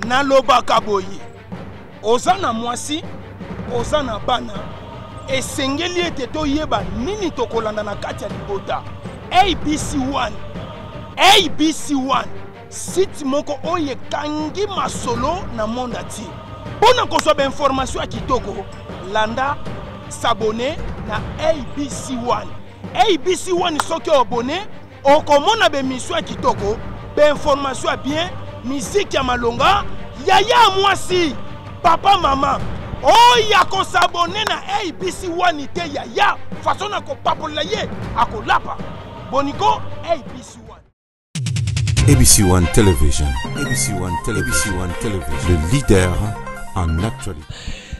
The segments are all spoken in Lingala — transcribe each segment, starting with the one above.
nalobaka boye oza na mwasi oza na bana esengeli ete toyeba nini tokolanda na kati ya libota abc1 abc1 site moko oyo ekangi masolo na monde atie mpo na kozwa bainformation ya kitoko landa sabone na abc1 abc1 soki obone okomona bemission ya kitoko bainformation ya bien miziki ya malonga yaya mwasi papa mama oyo akosabone na abc wani te yaya faso na kopapolela ye akolapa boniko abc ABC One Television. ABC One Television. ABC One Television. Le leader en actualité.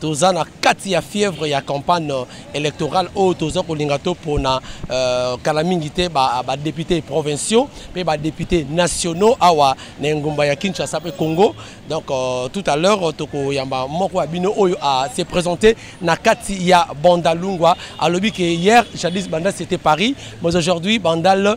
toza na kati ya fièvre ya campagne électorale oyo toza kolinga topona euh, kala mingi te badepute ba provinciaux mpe badepute nationaux awa na engumba ya kinshasa mpe congo donc euh, tout à l'heure tokoyamba moko ya bino oyo a se présente na kati ya bandalungwa alobi ke hier jadis bandal c'était paris mais aujourd'hui bandal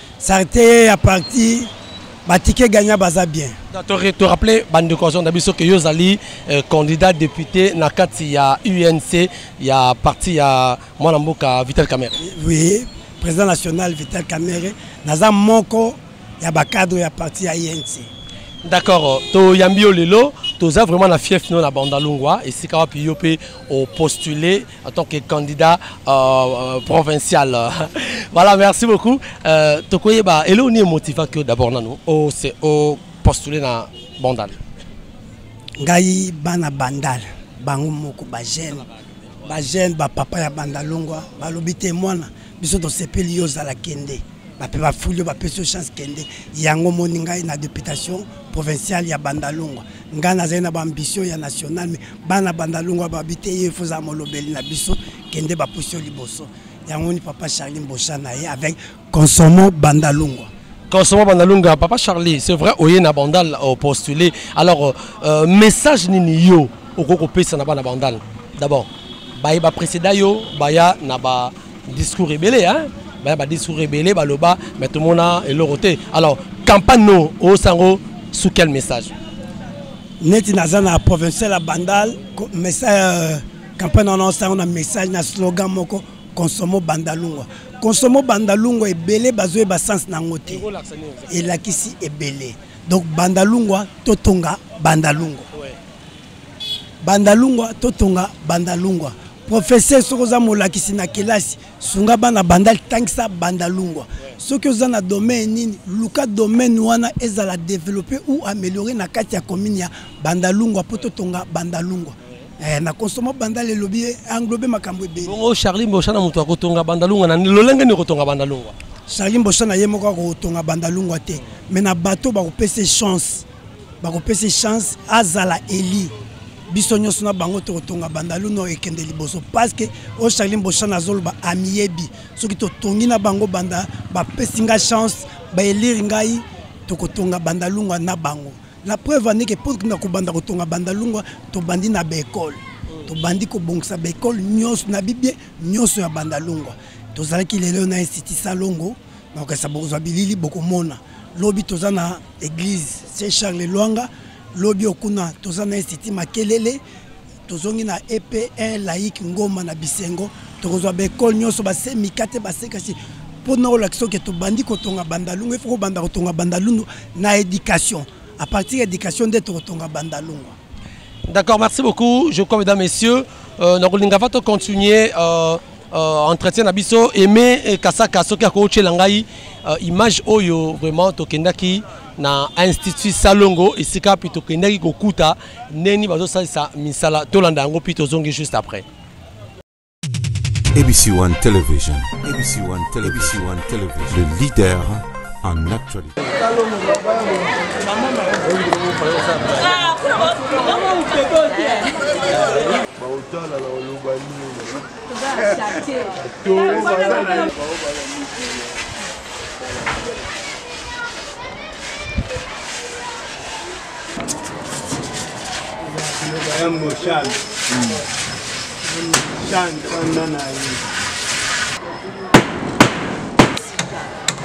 Sarite ya parti batike gagna baza bien to rappeler bande cohesion na biso que yo ozali euh, candidat député na kati ya UNC ya parti ya mwana mboka Vital Kamerhe oui président national Vital Kamerhe naza moko ya ba cadre ya parti ya UNC d'accord toyambi yo lelo toza vraiment na fief no na bandalungwa esika wapi yo mpe opostule en tant que candidat euh, euh provincial. voilà, merci beaucoup. Euh, Tokoyeba, et là on est motivé que d'abord nous, au, au postuler dans Bandal. Ngai bana Bandal, bango moko ba jeune, ba jeune, ba papa ya Bandalongwa, ba lobite mwana, biso tosepeli yo ozala kende bape bafuli yo bapesi yo chance kende yango moni ngai na deputation provinciale ya bandalungwa ngai nazali na baambition ya national me bana bandalungwa babi te ye efo ozala molobeli na biso kende bapusi yo liboso yango ni papa charlin bosha na ye avec consommant bandalungwa Kosoma Bandalunga, Papa Charlie, c'est vrai, oye na bandal au postulé. Alors, euh, euh, message nini yo okoko pesa na bana bandal D'abord, baye ba précéda yo, baya na ba discours rebelle hein. Baya ba discours rebelle baloba mais tout monde a eloroté. Alors, campagne no au sango sous quel message Neti naza na provincial bandal message euh, campagne na sango na message na slogan moko consomo bandalungwa consomo bandalungwa ebele bazoyeba sense na yango te elakisi ebele donc bandalungwa totonga bandalungwa bandalungwa totonga bandalungwa professeur soki oza molakisi na kelasi sunga bana bandal tangisa bandalungwa soki oza na domaine nini luka domaine wana ezala developpe ou ameliore na kati ya commune ya bandalungwa mpo totonga bandalungwa Eh, na consomma bandal elobi englobe makambo ebele bongo charli mbosa na moto akotonga bandalungwa na lolenge nini okotonga bandalungwa charli mbosa na ye moko akotonga bandalungwa te mais na bato bakopesa chance bakopesa chance azala eli biso nyonso na bango tokotonga bandalu no ekende liboso parceke oyo charli mboshan azoloba amiyebi soki totongi na bango banda bapesi ngai chance baelire ngai tokotonga bandalungwa na bango La preuve en est que pour na kobanda kotonga banda lungwa tobandi na ba école tobandi kobongisa ba école nyonso na bibie nyonso ya banda lungwa tozalaki lelo na institut salongo na kokesa bokozwa bilili bokomona lobi toza na église saint charles lwanga lobi okuna toza na institut makelele tozongi na epn laïque ngoma na bisengo tokozwa baekole nyonso basemika te basekasi mpo na olakisa soki tobandi kotonga bandalungu efo kobanda kotonga bandalungu na éducation à partir ya éducation nde tokotonga bandalungu d'accord merci beaucoup je crois mesdames messieurs euh, nakolinga va tocontinue euh, euh, entretien na biso aime eh, kasaka soki akotyela ngai euh, image oyo vraiment tokendaki na institut salongo esika mpe tokendaki kokuta ndeni bazosalisa misala tolanda yango mpi tozongi juste après ABC One Television. ABC One Television. ABC One Television. Le leader en actualité.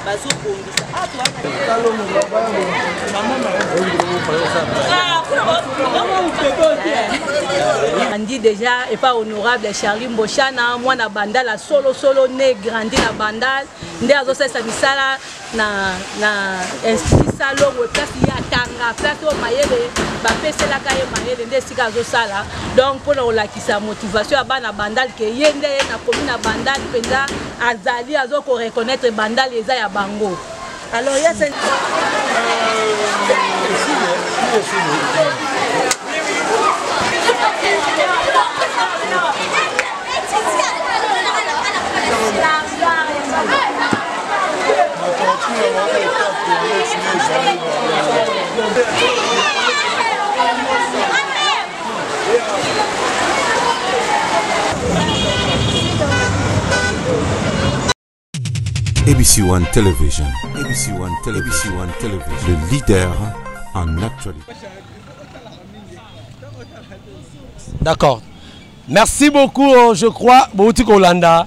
bazobongisa andi deja epa honorable charlie mboshana mwana bandal ya solosolo ne grandi na bandal nde azosalisa misala na, na institut salongo place ye atanga place oyo mayele bapeselaka ye mayele nde esika azosala donc mpona kolakisa motivation ya bana bandal ke ye nde ye nakomi na bandal mpenza azali azokoreconnaitre bandal eza ya bango alors ya sen euh, ABC One Television. ABC One Television. ABC One Television. Le leader en actualité. D'accord. Merci beaucoup, oh, je crois, bouti kolanda,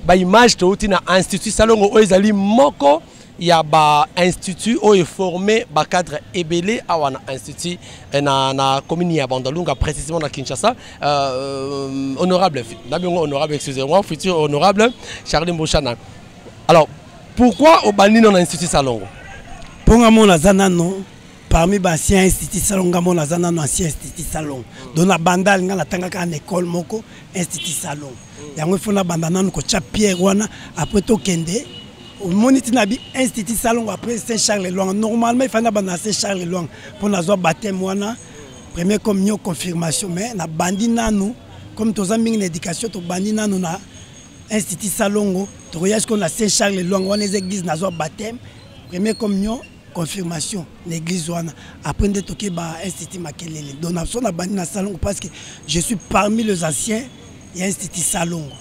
ba image touti na institut Salongo oyo ezali moko ya ba institut oyo eforme ba cadre ebele awa na institut eh, na, na commune ya Bandalunga précisément na Kinshasa euh, honorable na bingo honorable excusez-moi futur honorable Charlie Mboshana alors pourquoi obandi na institut Salongo mpo nga mona aza nano parmi ba ancien institut salon nga mona aza nano ancien institut salon donc na bandal nga natangaka na école moko institut salon yango ifo na banda nano kotya pierre wana après tokende omoni ntina bi institut salongo après saint charles lwanga normalement efandi na banda na saint charles lwanga mpo nazwa bateme wana premier comme nio confirmation mais nabandi nanu comme toza mingi na éducation tobandi nanu na institut salongo tokoya sikoyo na saint charles lwanga wana eza église nazwa bateme premier comme nio confirmation na église wana après nde toke ba institut makelele donc na biso na bandi na salongo parce que je suis parmi les anciens ya institut salongo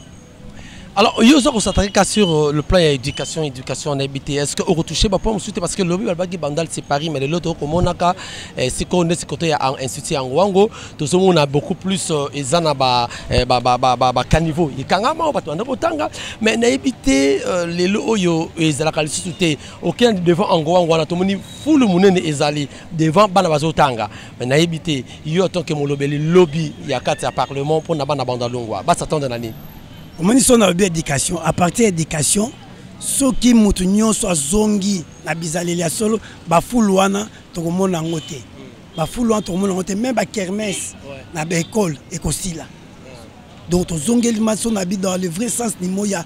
alors yo oza kosataki ka sur euh, le plan ya éducation éducation na yebi te est ce que okotouche bapoint mosusu te parce que lobi balobaki bandal c'est paris mais lelo tokomonaka eh, sikoyo nde sikoto ya institut yango wango tozomona beaucoup plus euh, eza na bacaniveau eh, ekangama oyo bato banda kotanga mais nayebi te euh, lelo oyo ezalaka lisusu te aucun devant angoang wana tomoni fulu monene ezali devant bana bazotanga me nayebi te yo atanke molobeli lobi ya kati ya parlement mpo na bana banda longwa basatande na nini omoni so nalobi éducation à partir ya éducation soki moto nyonso azongi na bizaleli ya solo bafulu wana tokomona yango te bafulu wana tokomona yango te meme bakermese na baekole ekosila donc tozongeli maso na bi dans le vrai sens nimo ya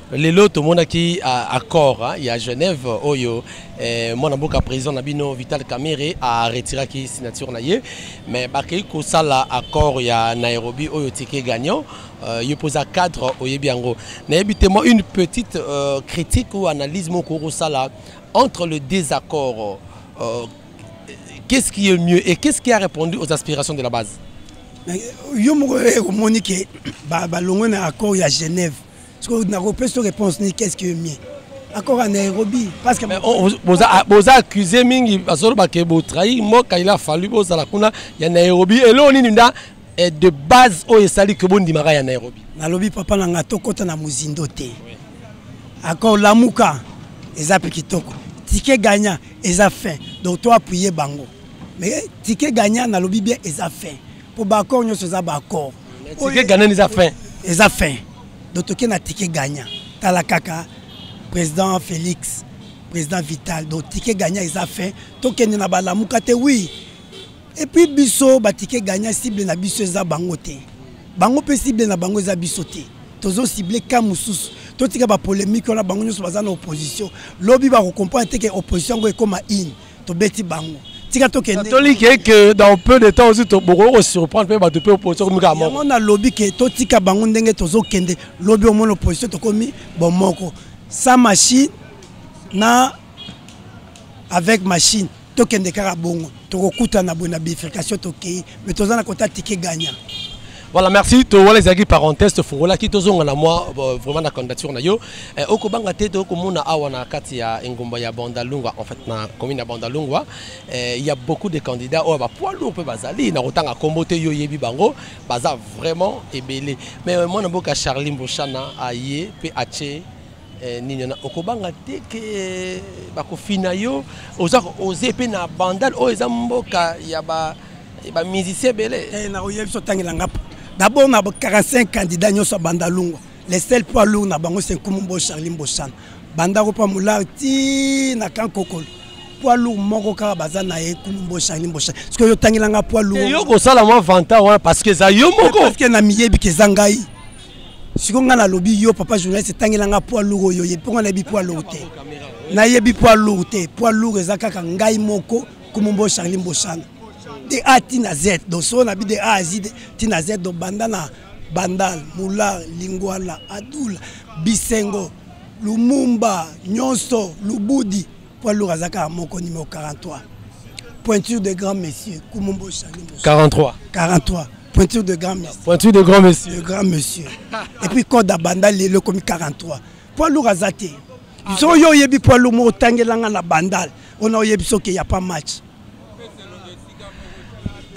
Lelo tomonaki accord hein, ya Genève oyo eh, mwana mboka président na bino Vital Kamerhe a retiraki signature na ye mais bakei kosala accord ya Nairobi oyo ticket gagnant euh, yo poza cadre oyebi yango nayebi te moi une petite euh, critique ou analyse moko okosala entre le désaccord euh, qu'est-ce qui est mieux et qu'est-ce qui a répondu aux aspirations de la base yo moko okomoni ke balongwe na accord ya Genève sikoyo nakopesa réponse nini qu'est ce que mie accord ya nairobi parceke oh, ah, boza accuse mingi bazoloba ke botrahi mboka il a fallu bozala kuna ya nairobi eloo nini nda eh, de base oyo esali ke bondimaka ya nairobi nalobi papa na ngai tokɔta na mozindo te accord lamuka eza mpe kitoko tike gagnant eza fin donc to appuye bango mais tike gagnant nalobi bien eza fin po ba accord nyonso eza ba accord tike gagnant eza fin eza fin donc toke na tike gagnant tala kaka président félix président vital donc tike gagnant eza fin tokende na balamuka te oui et puis biso batike gagnant cible na biso eza bango te bango mpe cible na bango eza biso te tozo cible ka mosusu totika bapolémike wana bango nyonso baza na opposition lobi bakocomprendre te ke opposition yango ekóma ine tobeti bango tika tokende toli ke ke dans peu de temps aussi bokoki kosurprendre mpe bato mpe opposition komi kaka moko nalobi ke totika bango ndenge tozokende lobi omona opposition tokomi bomoko sa machine na avec machine tokende kaka bongo tokokutana boye na bifurcation tokei me toza na kota tike gagnant Voilà, merci. To wala ezaki parenthèse tofungola ki tozonga na moi euh, vraiment na candidature na yo. Eh, oko banga te to ko mona awa na kati ya engumba ya Bandalungwa en fait na commune ya Bandalungwa. Eh, il y a beaucoup de candidats oyo ba poids lourd pe bazali na kotanga kombo te yo yebi bango baza vraiment ebele. Mais euh, mwana boka Charlie Mboshana aye pe ache Eh, nini wana okobanga te ke bakofina yo oza oze mpe na bandal oyo eza mboka ya bamusicien ebele eh, nakoyebi biso otangela nga dabord na 45 candidat nyonso ya bandalungwa le sel poids lourd na bango se nkumu mbo charli mbosana bandako mpa molare ti na kan kokolo poids lourd moko kaka baza na ye nkumu mbo charli mbosana soki oyo otangela nga poids lourd yo kosala mwa vanta wana parce que eza yo moko parce que na miyebi ke eza ngai siko ngai nalobi yo papa journaliste etangela ngai poids lourd oyo oyebi mpo ngai nayebi poids lourd te nayebi poids lourd te poids lourd eza kaka ngai moko kumumbo charli mbosana de a ti na z donc soo nabi de a azi ti na z donc banda na bandal mular lingwala adula bisengo lumumba nyonso lubudi Poids lourd aza kaka moko numéro 43. Pointure de grand monsieur Kumumbo Chani. 43. 43. Pointure de grand monsieur. Pointure de grand monsieur. De grand monsieur. Et puis code à banda lelo comme 43. Poids lourd aza te. Ah, Soki yo oyebi poids lourd mo otangelanga na bandal. Ona oyebi soki ya pas match.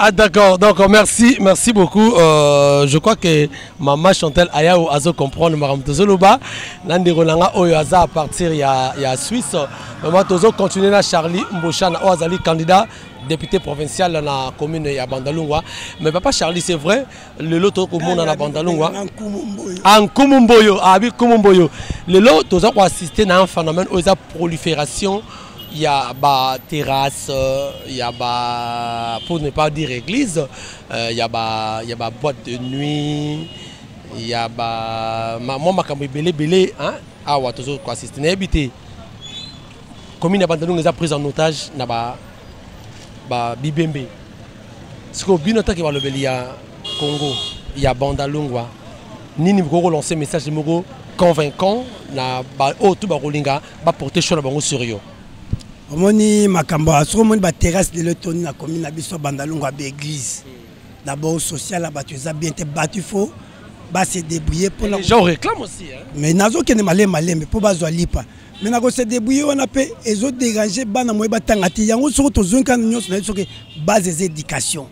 Ah d'accord, donc merci, merci beaucoup. Euh, je crois que maman Chantal Ayao azo comprendre Maram Tozoloba. Nandi Rolanga Oyo Aza à partir de la Suisse. Maman Tozo continue na Charlie Mbouchana oh, Azali candidat député provincial dans la commune de Bandalungwa. Mais papa Charlie, c'est vrai, le lot au monde dans Bandalungwa. En Kumumboyo. Ah oui, Kumumboyo. Le lot, tu as assisté à un phénomène, aux prolifération ya ba terrasse ya ba pour ne pas dire église euh, ya ba ya ba boîte de nuit ya ba mwa makambo ebele ebele awa tozo ko assister nayebi te commune ya bandalunga eza prise en otage na ba ba bibembe sikoyo bino atake balobeli ya congo ya bandalungwa nini bokoki kolancer message moko convaincant na baoyo oh, tu bakolinga ba porter choix na bango sur yo omoni makambo soki omoni baterrasse lelo etoni na komi na biso bandalongo ya baeglise d'abord social ya bato eza bien te bato ifo base débrouiller mpona mais nazokende malembe malembe mpo bazwa lipa me nakose débrouiller wana mpe ezoderange bana moye batanga te yango soki tozongi kani nyonso na ye soki base eza éducation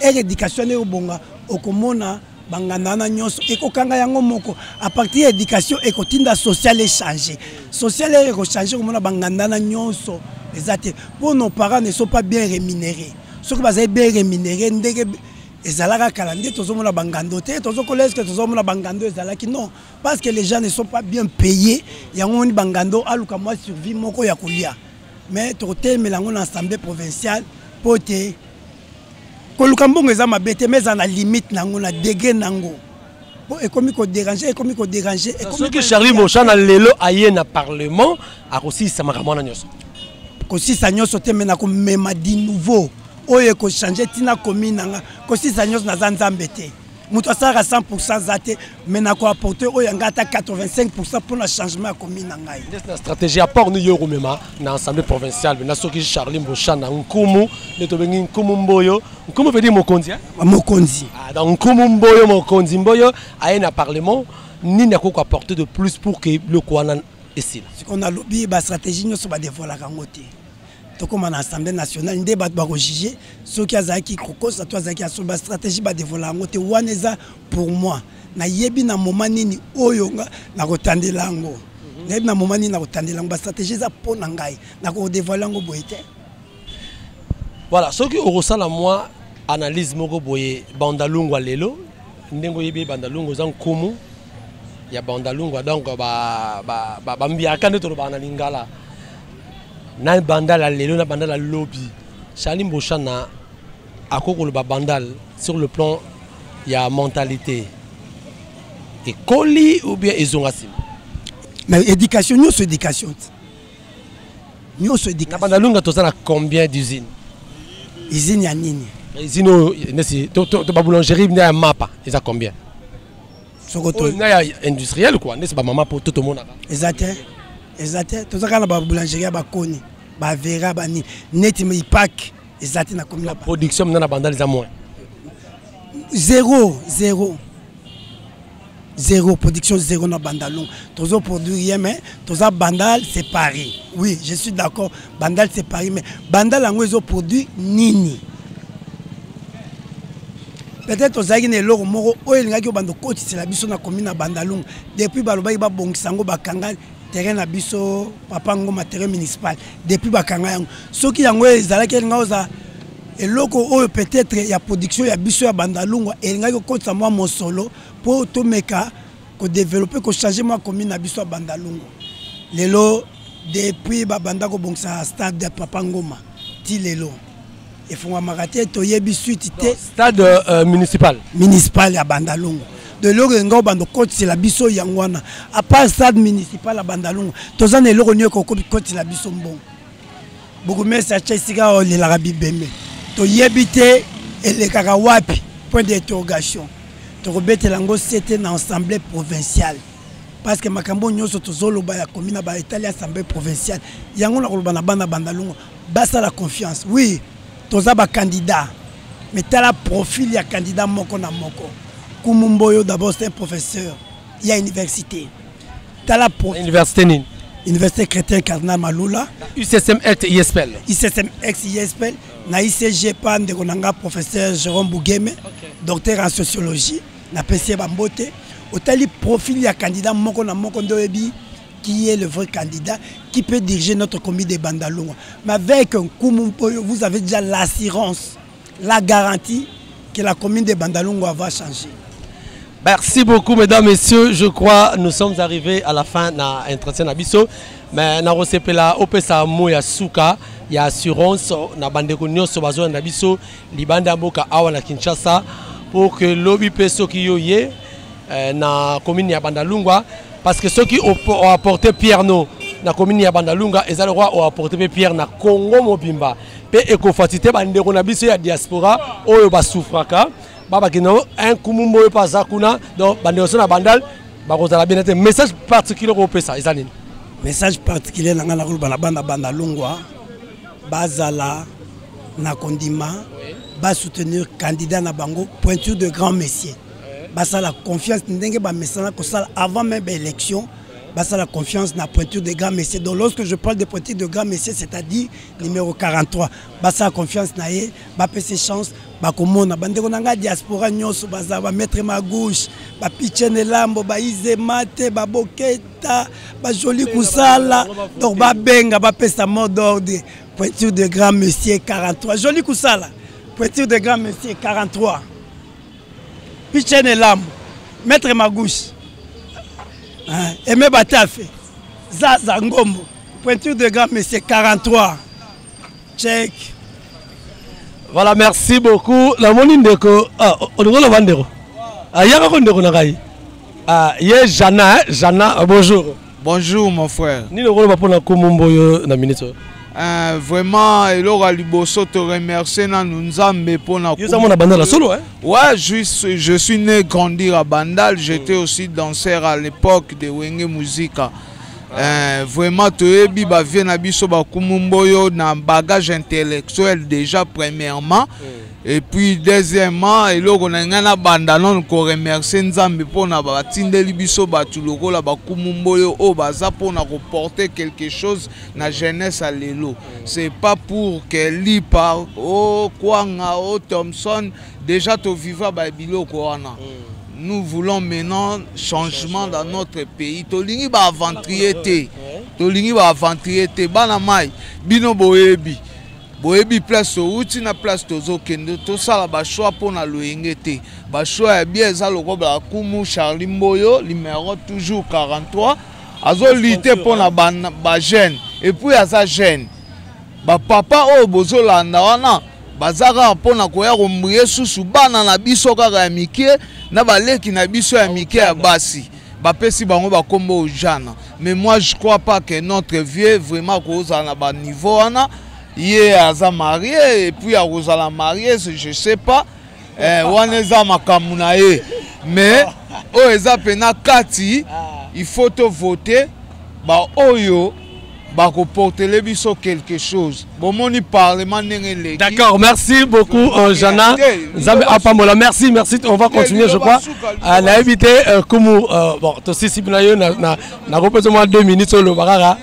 ere éducation nde obonga okomona banganda wana nyonso ekokanga yango moko à partir ya éducation ekotinda social echange social eye ekochange komona banganda na nyonso eza te mpo nos parents ne sont pas bien rémunéré soki bazali bien rémunéré ndenge ezalaka kala nde tozomona bangando te tozokola eske tozomona bangando ezalaki non parce que les gens ne sont pas bien payé yango moni bangando aluka mwa survie moko ya kolia mais tokotelemela yango na assemblée provinciale mpo te koluka mbongo eza mabe te mais eza na limite na yango na degre na yango po ekomi koderange ekomi koderange soki charlie moshana lelo aye na parlement akosilisa makambo wana nyonso kosilisa nyonso te me na komema di nouveau oyo ekochange ntina komi na nga kosilisa nyonso naza nzambe te moto asalaka 100 pourcent aza te mai nako apporte oyo ya ngai ata 85 pourcent mpo na changement ya commune na ngai na stratégie ya port niyo okomema na assemblée provinciale pena soki charli mbosha na nkumu nde tobengi nkumu mboyo nkumu vedi mokonzi eh? mokonzi ah, donc nkumu mboyo mokonzi mboyo aye na parlement nini akoki koapporte de plus pour ke biloko wana esila sikoyo nalobi bastratégie nyonso badevoilaka yango te tokoma na assemblée nationale nde bato bakojuge soki azalaki kokosa to azalaki asolo bastratégie badevola yango te wana eza pour moi nayebi na moma nini oyo nga nakotandela yango mhm. nayebi na moma nini nakotandela yango bastratégie eza mpo na ngai nakodevoile yango boye te voilà soki okosala mwa analyse moko boye bandalungwa lelo ndenge oyebi bandalungwa eza nkumu ya bandalungwa donc bambiaka ba, ba, ba nde tolobaka na lingala na bandal ya lelo na bandal ya lobi charli mboshana akoki koloba bandal sur le plan ya mentalité ekoli ou bien ezonga nsima na éducation nyonso éducation te nyonso éducation na bandalunga toza na combien d'usine usine ya nini usine oyo nesi to baboulangerie nde ya mapa eza combien soko to na ya industriel quoi n'est-ce pas maman poto tomonaka eza te eza te toza kaka na ba boulangerie ya bakoni ba vera ba nini neti ipak eza te na komi na production mna na bandal eza moins zéro zéro zéro production zéro na bandalon tozo produire ye mais toza bandal c'est paris oui je suis d'accord bandal c'est paris mais bandal yango ezo produit nini peut-être ozalaki na eloko moko oyo elingaki obanda okotisela biso na komi na bandalungu depuis balobaki babongisa yango bakanga terrain na biso papa ngoma terrain municipal depuis bakanga yango soki yango ezalaki elinga oza eloko oyo peut-être ya production ya biso ya bandalungwa elingaki kokotisa mwa mosolo mpo tomeka kodevelope kochange mwa commune na biso ya bandalungu lelo depuis babanda kobongisa stade ya papa ngoma ti lelo efungwamaka te toyebi suite te stade uh, municipal municipal ya bandalungu de eloko elinga obanda okotisela biso yango wana apart stade municipal ya bandalungu toza na eloko nini ekokotela biso mbongo bokomesi atya esika oyo olelaka bibembe toyebi te elekaka wapi point d'interrogation tokobetela yango sete na assemblée provinciale parce que makambo nyonso tozoloba ya komi na baetali assemblée provinciale yango na koloba na bana bandalongo basala confiance oui toza bacandidat mais tala profil ya candidat moko na moko kumumboyo d'abord c'est un professeur ya université tala po université nini université chrétien cardinal malula ucsm ect ispl ucsm ect ispl na icg pa ndeko na nga professeur jérôme bougeme okay. docteur en sociologie napesi ye bambote otali profil ya candidat moko na moko nde oyebi qui est le vrai candidat qui peut diriger notre comité de bandalonga mais avec nkumu mpoyo vous avez déjà l'assurance la garantie que la commune de Bandalungwa va changer. Merci beaucoup, mesdames, messieurs. Je crois nous sommes arrivés à la fin de l'entretien Nabiso. Mais nous recevons là, au Pessa Moya Souka, il y a assurance, na bande konyo so bazo na biso libanda mboka awa na Kinshasa pour que lobby peso ki yo ye eh, na commune ya Bandalungwa parce que ceux qui ont apporté Pierre no na commune ya Bandalunga ezali roi ont apporté Pierre na Congo mobimba mpe ekofatite bandeko na biso ya diaspora oyo basufraka babakende un kumumbo oyo mpe aza kuna donc bandeko so na bandal bakozala bene te message particulier koopesa eza nini message particulier na ngai nakoloba na bana banda longwa bazala na kondima basoutenir candidat na bango pointure de grand messier basala confiance ndenge bamesana kosala avant même baélection basala confiance na pointure de grand messier donc lorsque je parle de pointure de grand messier c'est-à-dire numéro 43 basala confiance na ye bapese chance bakomona bandeko na ngai diaspora nyonso baza bamaître ma gauche bapichen elambo baize mate baboketa bajoli kusala donc babenga bapesa mot d'ordre pointure de grand monsieur 43 joli kusala pointure de grand monsieur 43 pichen elambo maître ma gauche aime batafe zaza ngombo Pointure de gamme, c'est 43. Check. Voilà, merci beaucoup. La moni ndeko, ah, olingo loba ndeko. Ah, yaka ko ndeko na ngai. Ah, ye Jana, hein? Jana, ah, bonjour. Bonjour mon frère. Nini okoloba pona komombo yo na minute Uh, vraiment eloko ya liboso te remercie nanu nzambe mpona yozamona bandal ya solo eh? ouais je, je suis né grandir à bandal j'étais aussi danseur à l'époque de wenge musica Eh, vraiment toyebi bavie na biso bakumu mboyo na bagage intellectuel déjà premièrement mm. et puis deuxièmement eloko na ngai nabanda nano koremercie nzambe mpona batindeli biso bato lokola bakumu mboyo oyo baza mpona koporte quelque chose na jeunesse ya lelo mm. c'est pas pour que lipa o oh, kwanga o oh, thomson Deja to viva ba biloko wana. Mm. nous voulons maintenant changement dans notre pays tolingi baaventurier te tolingi baaventurier te bana mai bino boyebi boyebi place outi na place tozokende tosala bachoix mpo na loyenge te bachoix ya bia eza lokola kumu charli mboyo numero toujours 43 azolite mpo na bajeune epuis aza jeune Ba papa oyo bozo landa wana baza kaka mpo na koya kombuye susu bana na biso kaka ya mike na baleki na biso ya mike ya basi bapesi bango bakombo ojana mais moi je crois pas que notre vieux vraiment akozala na baniveau wana ye aza marie epuis akozala marie je sais pas eh, wana eza makambo na ye mais oyo eza mpena kati ah. il faut tovote baoyo bakoportele biso quelque chose bomoni parlement ndenge eleki d'accord merci beaucoup euh, jana nzambe apambola merci merci on va continuer je crois euh, nayebi te euh, kumu bon tosisi bino yo nakopesa mwa deux minutes oloba kaka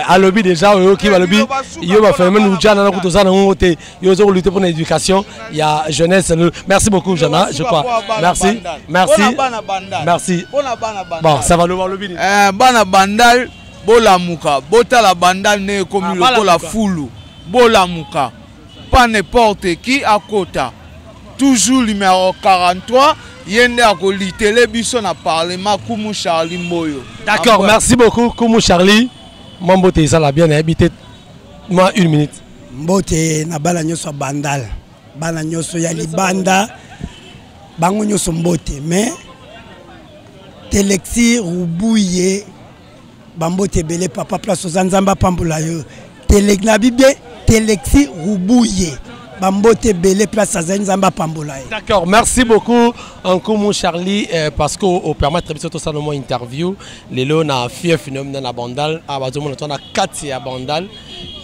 alobi déjà oyoki balobi yo baphénomène ujana nakuti oza nango te yo ozo lutter pour l'éducation il y a jeunesse merci beaucoup Jana je crois merci merci merci bon ça va le voir le bini euh bana bandal bolamuka botala bandal ne ekomi ah, lokola fulu bolamuka pas n'importe qui akota toujours numéro 43 ye nde akolitele biso na parlement kumu charlie mboyo d'accord merci beaucoup kumu charlie mambo te ezala bien nayebi te moi une minute mbote na bana nyonso ya bandal bana nyonso ya libanda bango nyonso mbote mais telexi rubuye bambote ebele papa place oza nzambe apambola yo tele na bibie telexi rubuye bambote ebele place azali nzambe apambola ye d'accord merci beaucoup nkumu charlie eh, parce que opermettre biso tosala mwa interview lelo na fief nomina na bandal awa ah, bazomona to na kati ya bandal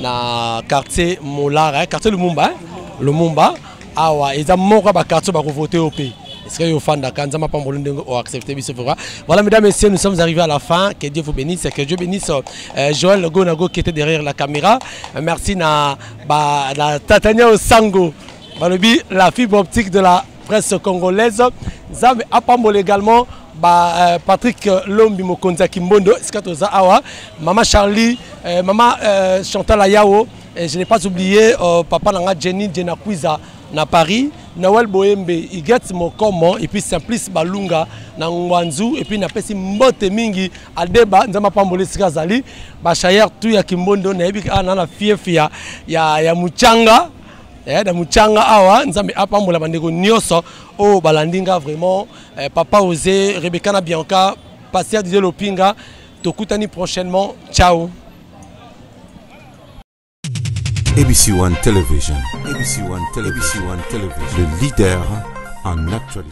na quartier molara eh, quartier lumumba eh, lumumba awa eza moko ya baquartier bakovote yo mpe esika yo ofandaka nzambe apamboli ndenge oaccepte biso vroi voilà mesdames messieurs nous sommes arrivés à la fin que dieu vous bénisse que dieu bénisse euh, joël gonago qui était derrière la caméra euh, merci na, ba, na tatania osango balobi la fibre optique de la presse congolaise nzambe apambola également ba euh, Patrick euh, Lombi mokonzi ya Kimbondo esika toza awa mama Charlie euh, mama euh, Chantal Ayao et je n'ai pas oublié euh, papa nanga Jenny Jenna Kwiza na Paris Noël Boembe Igets Mokomo et puis Simplice Balunga na Ngwanzu et puis na pesi mbote mingi Adeba nzama pambole esika zali ba Shayer tout ya Kimbondo na yebi ana na fief ya ya, ya Muchanga Eh, na muchanga awa nzambe apambola bandeko nyonso oyo oh, balandi nga vraiment eh, papa ose rebeka na bianca paster didie lopinga tokutani prochainement ciao abc one television abc one television abc one television le leader en actualité